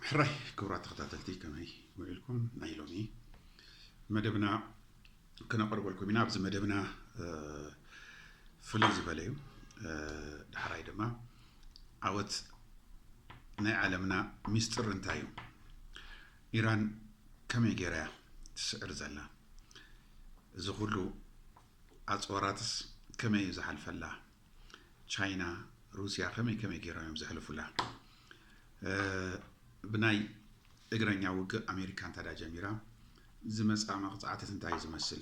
ሕራይ ክብራት ተኸታተልቲ ከመይ ውዒልኩም ናይ ሎሚ መደብና ክነቕርበልኩም ኢና ኣብዚ መደብና ፍልይ ዝበለ እዩ ዳሕራይ ድማ ዓወት ናይ ዓለምና ሚስጥር እንታይ እዩ ኢራን ከመይ ገይራ እያ ትስዕር ዘላ እዚ ኩሉ ኣፅዋራትስ ከመይ እዩ ዝሓልፈላ ቻይና ሩስያ ከመይ ከመይ ገይሮም እዮም ዘሕልፉላ ብናይ እግረኛ ውግእ ኣሜሪካ እንታዳ ጀሚራ ዝመፅኣ መቕፃዕትት እንታይ ዝመስል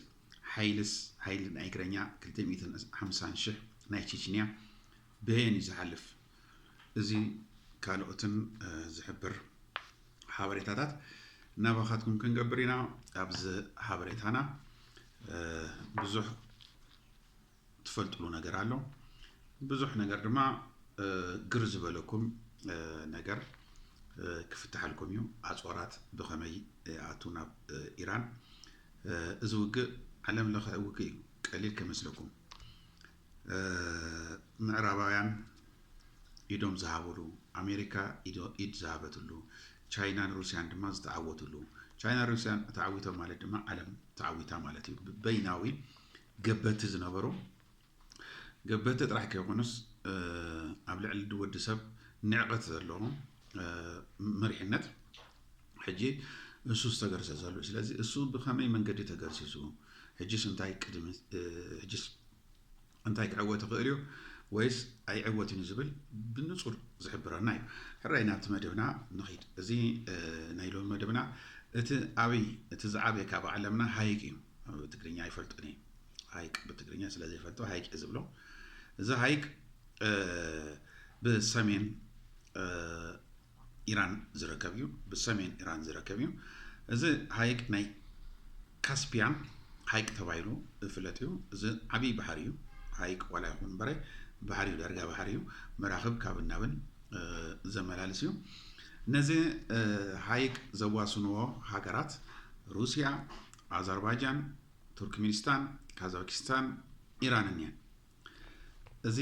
ሓይልስ ሓይሊ ናይ እግረኛ 250 ሽሕ ናይ ቼችንያ ብየን እዩ ዝሓልፍ እዚ ካልኦትን ዝሕብር ሓበሬታታት ናባኻትኩም ክንገብር ኢና ኣብዚ ሓበሬታና ብዙሕ ትፈልጥሉ ነገር ኣሎ ብዙሕ ነገር ድማ ግር ዝበለኩም ነገር ክፍትሓልኩም እዩ ኣፅዋራት ብኸመይ ይኣቱ ናብ ኢራን እዚ ውግእ ዓለም ለኸ ውግእ እዩ ቀሊል ከመስለኩም ምዕራባውያን ኢዶም ዝሃብሉ ኣሜሪካ ኢድ ዝሃበትሉ ቻይናን ሩስያን ድማ ዝተዓወትሉ ቻይና ሩስያን ተዓዊቶም ማለት ድማ ዓለም ተዓዊታ ማለት እዩ በይናዊ ገበቲ ዝነበሩ ገበቲ ጥራሕ ከይኮኑስ ኣብ ልዕሊ ድወዲ ሰብ ንዕቐት ዘለዎም መሪሕነት ሕጂ እሱ ዝተገርሰ ዘሉ ስለዚ እሱ ብኸመይ መንገዲ ተገርሲሱ ሕጂስ እንታይ ቅድሚ ሕጂስ እንታይ ክዕወት ይኽእል እዩ ወይስ ኣይዕወትን እዩ ዝብል ብንጹር ዝሕብረና እዩ ሕራይ ናብቲ መደብና ንኺድ እዚ ናይ ሎሚ መደብና እቲ ኣብይ እቲ ዝዓበየ ካብ ዓለምና ሃይቅ እዩ ትግርኛ ኣይፈልጥን እየ ሃይቅ ብትግርኛ ስለ ዘይፈልጦ ሃይቅ እየ ዝብሎ እዚ ሃይቅ ብሰሜን ኢራን ዝርከብ እዩ ብሰሜን ኢራን ዝርከብ እዩ እዚ ሃይቅ ናይ ካስፒያ ሃይቅ ተባሂሉ ዝፍለጥ እዩ እዚ ዓብይ ባሕሪ እዩ ሃይቅ ዋላ ይኹን እምበረ ባሕሪ እዩ ዳርጋ ባሕሪ እዩ መራኽብ ካብ ናብን ዘመላልስ እዩ ነዚ ሃይቅ ዘዋስንዎ ሃገራት ሩስያ ኣዘርባጃን፣ ቱርክሚኒስታን፣ ካዛኪስታን፣ ኢራንን እየን። እዚ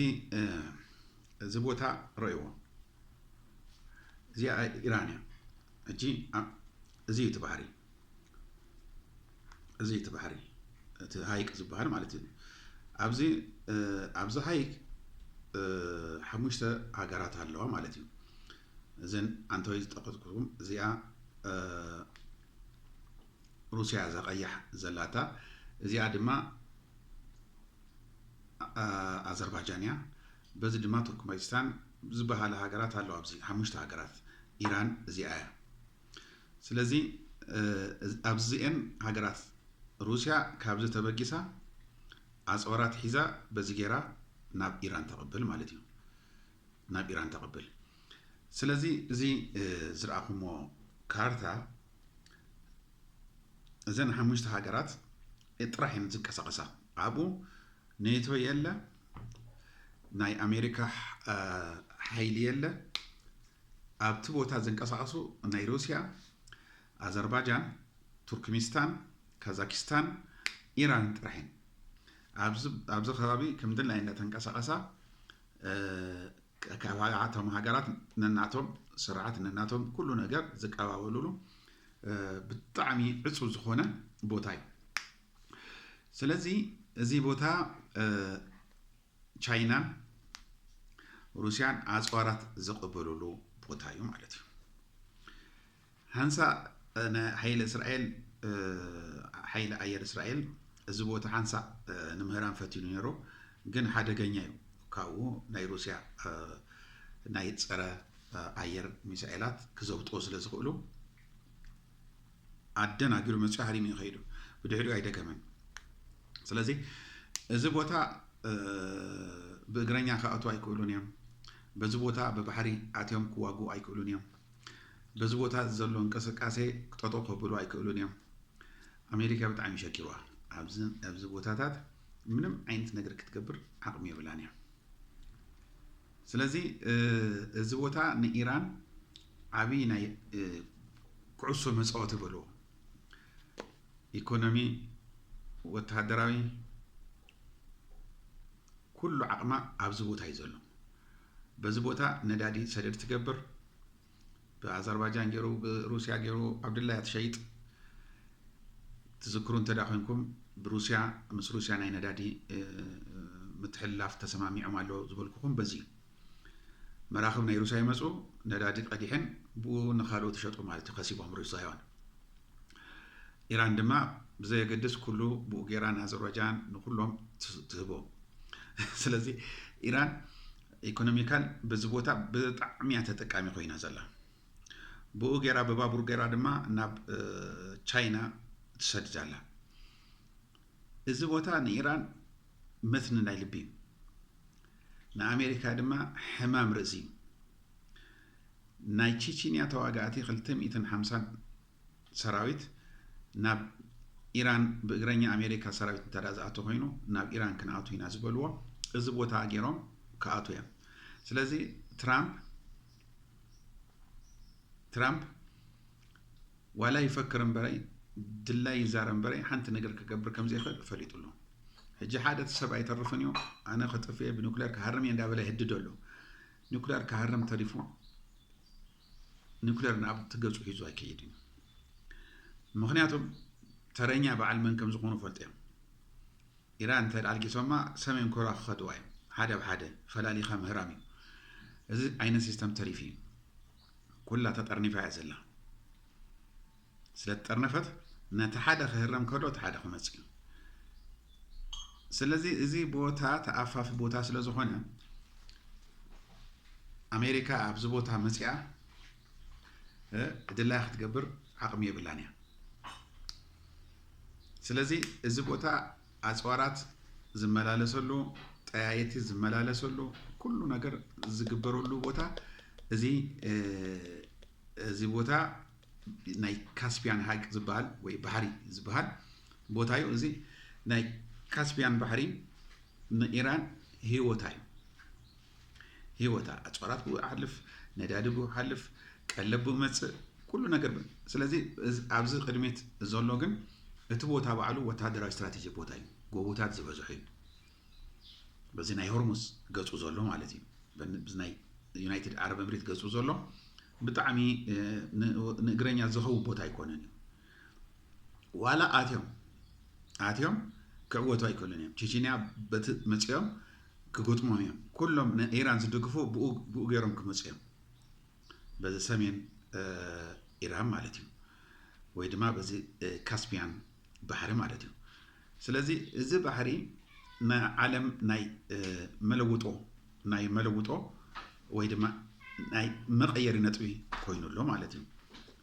እዚ ቦታ ረእይዎ እዚኣ ኢራን እያ። ሕጂ እዚ እዩ እቲ ባሕሪ እዚ እዩ እቲ ባሕሪ እቲ ሃይቅ ዝበሃል ማለት እዩ ኣብዚ ኣብዚ ሃይቅ ሓሙሽተ ሃገራት ኣለዋ ማለት እዩ እዘን ኣንተወይ ዝጠቀስኩም እዚኣ ሩስያ እዛ ቀያሕ ዘላታ እዚኣ ድማ ኣዘርባጃን እያ በዚ ድማ ቱርክመጅስታን ዝበሃላ ሃገራት ኣለዋ ኣብዚ ሓሙሽተ ሃገራት ኢራን እዚኣ እያ ስለዚ ኣብዚኤን ሃገራት ሩስያ ካብዚ ተበጊሳ ኣፅዋራት ሒዛ በዚ ጌራ ናብ ኢራን ተቐብል ማለት እዩ ናብ ኢራን ተቐብል ስለዚ እዚ ዝረኣኹሞ ካርታ እዘን ሓሙሽተ ሃገራት ጥራሕ እየን ዝንቀሳቐሳ ኣብኡ ኔቶ የለ ናይ ኣሜሪካ ሓይሊ የለ ኣብቲ ቦታ ዝንቀሳቐሱ ናይ ሩስያ ኣዘርባጃን ቱርክሚስታን ካዛኪስታን ኢራን ጥራሕ እየን ኣብዚ ከባቢ ከምድላይ እንዳተንቀሳቐሳ ቀካባቢ ኣቶም ሃገራት ነናቶም ስርዓት ነናቶም ኩሉ ነገር ዝቀባበሉሉ ብጣዕሚ ዕፁብ ዝኾነ ቦታ እዩ። ስለዚ እዚ ቦታ ቻይናን ሩስያን ኣፅዋራት ዝቕበሉሉ ቦታ እዩ ማለት እዩ። ሓንሳእ ናይ ሓይሊ እስራኤል ሓይሊ ኣየር እስራኤል እዚ ቦታ ሓንሳእ ንምህራም ፈቲኑ ነይሩ፣ ግን ሓደገኛ እዩ። ካብኡ ናይ ሩስያ ናይ ፀረ ኣየር ሚሳኤላት ክዘውጥዎ ስለ ዝኽእሉ ኣደናጊሩ መፅዮ ሃሪሙ እዩ ከይዱ። ብድሕሪኡ ኣይደገመን። ስለዚ እዚ ቦታ ብእግረኛ ክኣትዉ ኣይክእሉን እዮም። በዚ ቦታ ብባሕሪ ኣትዮም ክዋግኡ ኣይክእሉን እዮም። በዚ ቦታ እዚ ዘሎ እንቅስቃሴ ጠጠው ከብሉ ኣይክእሉን እዮም። ኣሜሪካ ብጣዕሚ ሸጊርዋ ኣብዚ ኣብዚ ቦታታት ምንም ዓይነት ነገር ክትገብር ዓቕሚ የብላን እያ። ስለዚ እዚ ቦታ ንኢራን ዓብይ ናይ ኩዕሶ መፃወቲ በልዎ ኢኮኖሚ፣ ወተሃደራዊ ኩሉ ዓቕማ ኣብዚ ቦታ እዩ ዘሎ። በዚ ቦታ ነዳዲ ሰደድ ትገብር ብኣዘርባጃን ገይሩ ብሩስያ ገይሩ ዓብድላ እያ ትሸይጥ ትዝክሩ እንተ ኮንኩም ብሩስያ ምስ ሩስያ ናይ ነዳዲ ምትሕልላፍ ተሰማሚዖም ኣሎ ዝበልኩኹም በዚ እዩ መራኽብ ናይ ሩስያ ይመፁ ነዳዲ ቀዲሐን ብኡ ንካልኦት ይሸጡ ማለት እዩ ከሲቦም ሩስያውያን ኢራን ድማ ብዘየገድስ ኩሉ ብኡ ጌራ ንኣዘርባጃን ንኩሎም ትህቦ ስለዚ ኢራን ኢኮኖሚካል በዚ ቦታ ብጣዕሚ እያ ተጠቃሚ ኮይና ዘላ ብኡ ጌራ ብባቡር ጌራ ድማ ናብ ቻይና ትሰድድ ኣላ እዚ ቦታ ንኢራን መትኒ ናይ ልቢ እዩ ንኣሜሪካ ድማ ሕማም ርእሲ እዩ ናይ ቺቺንያ ተዋጋእቲ 250 ሰራዊት ናብ ኢራን ብእግረኛ ኣሜሪካ ሰራዊት እንተ ዝኣቶ ኮይኑ ናብ ኢራን ክንኣቱ ኢና ዝበልዎ እዚ ቦታ ገይሮም ክኣቱ እዮም ስለዚ ትራምፕ ትራምፕ ዋላ ይፈክር እምበረይ ድላይ ይዛረብ እምበረይ ሓንቲ ነገር ክገብር ከም ዘይኽእል ፈሊጡ ኣሎ ሕጂ ሓደ እቲ ሰብ ኣይተርፍን እዩ ኣነ ክጥፍኤ ብኒኩሌር ክሃርም እየ እንዳበለ ይህድዶ ኣሎ ኒኩሌር ክሃርም ተሪፉ ኑክሌር ናብቲ ገጹ ሒዙ ኣይከይድን እዩ ምክንያቱም ተረኛ በዓል መን ከም ዝኾኑ ፈልጡ እዮም ኢራን እንተ ኣልጊሶማ ሰሜን ኮርያ ክኸድዋ እዮም ሓደ ብ ሓደ ፈላሊኻ ምህራም እዩ እዚ ዓይነት ሲስተም ተሪፉ እዩ ኩላ ተጠርኒፋ እያ ዘላ ስለትጠርነፈት ነቲ ሓደ ክህረም ከሎ እቲ ሓደ ክመጽእ እዩ ስለዚ እዚ ቦታ ተኣፋፊ ቦታ ስለ ዝኾነ ኣሜሪካ ኣብዚ ቦታ መጽኣ ድላይ ክትገብር ዓቕሚ የብላን እያ ስለዚ እዚ ቦታ ኣፅዋራት ዝመላለሰሉ ጠያይቲ ዝመላለሰሉ ኩሉ ነገር ዝግበረሉ ቦታ እዚ እዚ ቦታ ናይ ካስፒያን ሃይቅ ዝበሃል ወይ ባሕሪ ዝበሃል ቦታ እዩ። እዚ ናይ ካስፒያን ባሕሪ ንኢራን ህይወታ እዩ። ህይወታ ኣፅዋራት ብኡ ይሓልፍ፣ ነዳዲ ብኡ ይሓልፍ፣ ቀለብ ብኡ መፅእ፣ ኩሉ ነገር ብ- ስለዚ እዝ- ኣብዚ ቅድሚት ዘሎ ግን እቲ ቦታ ባዕሉ ወተሃደራዊ ስትራቴጂ ቦታ እዩ። ጎቦታት ዝበዝሖ እዩ። በዚ ናይ ሆርሙዝ ገጹ ዘሎ ማለት እዩ በዚ ናይ ዩናይትድ ዓረብ እምሪት ገጹ ዘሎ ብጣዕሚ ንእግረኛ ዝኸው ቦታ ኣይኮነን እዩ ዋላ ኣትዮም ኣትዮም ክዕወቱ ኣይክእሉን እዮም ቼችንያ በቲ መፅኦም ክገጥሞም እዮም ኩሎም ንኢራን ዝድግፉ ብኡ ገይሮም ክመፁ እዮም በዚ ሰሜን ኢራን ማለት እዩ ወይ ድማ በዚ ካስፒያን ባሕሪ ማለት እዩ ስለዚ እዚ ባሕሪ ናይ ዓለም ናይ መለውጦ ናይ መለውጦ ወይ ድማ ናይ መቐየሪ ነጥቢ ኮይኑ ኣሎ ማለት እዩ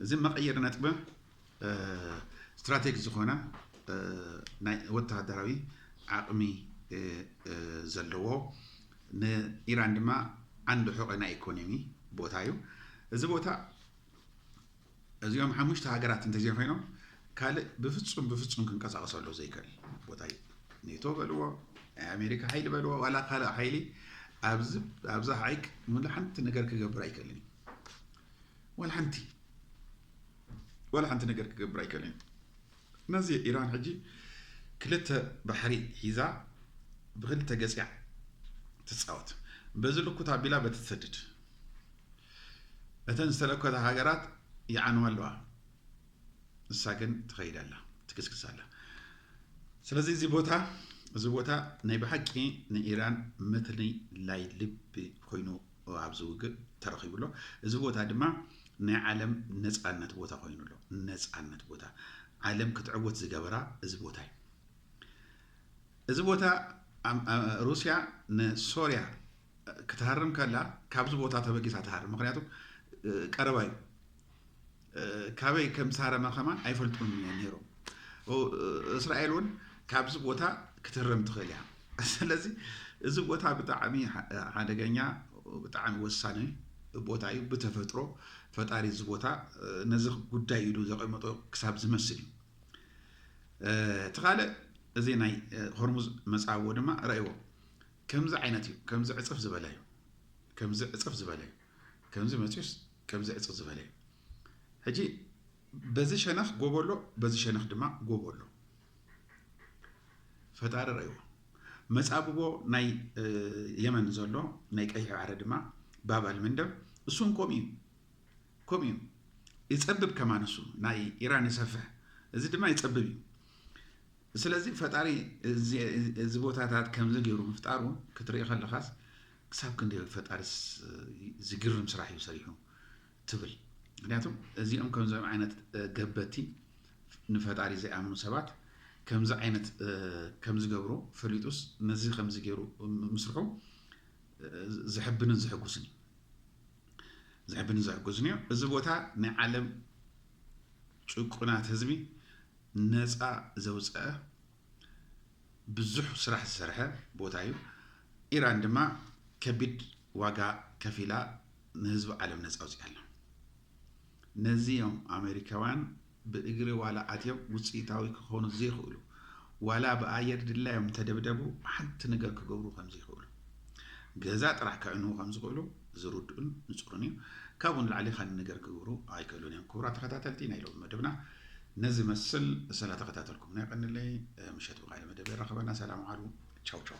እዚ መቐየሪ ነጥቢ ስትራቴጊ ዝኾና ናይ ወተሃደራዊ ዓቕሚ ዘለዎ ንኢራን ድማ ዓንዲ ሑቐ ናይ ኢኮኖሚ ቦታ እዩ እዚ ቦታ እዚኦም ሓሙሽተ ሃገራት እንተዘይኮይኖም ካልእ ብፍፁም ብፍፁም ክንቀሳቀሰሉ ዘይክእል ቦታ እዩ ኔቶ በልዎ ናይ ኣሜሪካ ሓይሊ በልዎ ዋላ ካልእ ሓይሊ ኣብዚ ሓይክ ሙሉ ሓንቲ ነገር ክገብር ኣይክእልን እዩ ዋላ ሓንቲ ዋላ ሓንቲ ነገር ክገብር ኣይክእልን እዩ ነዚ ኢራን ሕጂ ክልተ ባሕሪ ሒዛ ብክልተ ገጽያ ትጻወት በዚ ልኩት ኣቢላ በቲ ትሰድድ እተን ዝተለኮታ ሃገራት ይዓንዋ ኣለዋ ንሳ ግን ትኸይድ ኣላ ትክስክስ ኣላ ስለዚ እዚ ቦታ እዚ ቦታ ናይ ብሓቂ ንኢራን መትኒ ላይ ልቢ ኮይኑ ኣብዚ ውግእ ተረኺቡ ኣሎ። እዚ ቦታ ድማ ናይ ዓለም ነጻነት ቦታ ኮይኑ ኣሎ። ነጻነት ቦታ ዓለም ክትዕወት ዝገበራ እዚ ቦታ እዩ። እዚ ቦታ ሩስያ ንሶርያ ክትሃርም ከላ ካብዚ ቦታ ተበጊሳ ትሃርም፣ ምክንያቱ ቀረባ እዩ። ካበይ ከም ዝሃረመ ከማን ኣይፈልጡን እዮም ነይሮም። እስራኤል እውን ካብዚ ቦታ ክትህረም ትኽእል እያ። ስለዚ እዚ ቦታ ብጣዕሚ ሓደገኛ ብጣዕሚ ወሳኒ ቦታ እዩ። ብተፈጥሮ ፈጣሪ እዚ ቦታ ነዚ ጉዳይ ኢሉ ዘቐመጦ ክሳብ ዝመስል እዩ። እቲ ካልእ እዚ ናይ ሆርሙዝ መፃብቦ ድማ ረእዎ ከምዚ ዓይነት እዩ። ከምዚ ዕፅፍ ዝበለ እዩ። ከምዚ ዕፅፍ ዝበለ እዩ። ከምዚ መፅዩስ ከምዚ ዕጽ ዝበለ እዩ ሕጂ በዚ ሸነኽ ጎቦ ኣሎ በዚ ሸነኽ ድማ ጎቦ ኣሎ ፈጣሪ ረእዎ መጻብቦ ናይ የመን ዘሎ ናይ ቀይሕ ባሕሪ ድማ ባብ ኣልመንደብ እሱን ከምኡ እዩ ከምኡ እዩ ይጸብብ ከማን እሱ ናይ ኢራን ይሰፍሕ እዚ ድማ ይጸብብ እዩ ስለዚ ፈጣሪ እዚ ቦታታት ከምዚ ገይሩ ምፍጣሩ ክትርኢ ከለኻስ ክሳብ ክንደይ ዩ ፈጣሪስ ዝግርም ስራሕ ዩ ሰሪሑ ትብል ምክንያቱ እዚኦም ከምዚኦም ዓይነት ገበቲ ንፈጣሪ ዘይኣምኑ ሰባት ከምዚ ዓይነት ከምዝገብሩ ፈሊጡስ ነዚ ከምዚ ገይሩ ምስርሑ ዘሕብንን ዘሕጉስን እዩ ዘሕብንን ዘሕጉስን እዩ እዚ ቦታ ናይ ዓለም ጭቁናት ህዝቢ ነፃ ዘውፀአ ብዙሕ ስራሕ ዝሰርሐ ቦታ እዩ። ኢራን ድማ ከቢድ ዋጋ ከፊላ ንህዝቢ ዓለም ነፃ ኣውፂኣ ኣላ። ነዚ እዮም ኣሜሪካውያን ብእግሪ ዋላ ኣትዮም ውፅኢታዊ ክኾኑ ዘይኽእሉ ዋላ ብኣየር ድላዮም እንተደብደቡ ሓንቲ ነገር ክገብሩ ከምዘይኽእሉ ገዛ ጥራሕ ከዕንዉ ከምዝኽእሉ ዝርድኡን ንፁርን እዩ ካብኡ ንላዕሊ ካልእ ነገር ክገብሩ ኣይክእሉን እዮም ክቡራት ተኸታተልቲ ናይ ሎሚ መደብና ነዚ መስል ሰለ ተከታተልኩምና የቀንለይ ምሸት ብካልእ መደብ የራክበና ሰላም ዓሉ ቻው ቻው።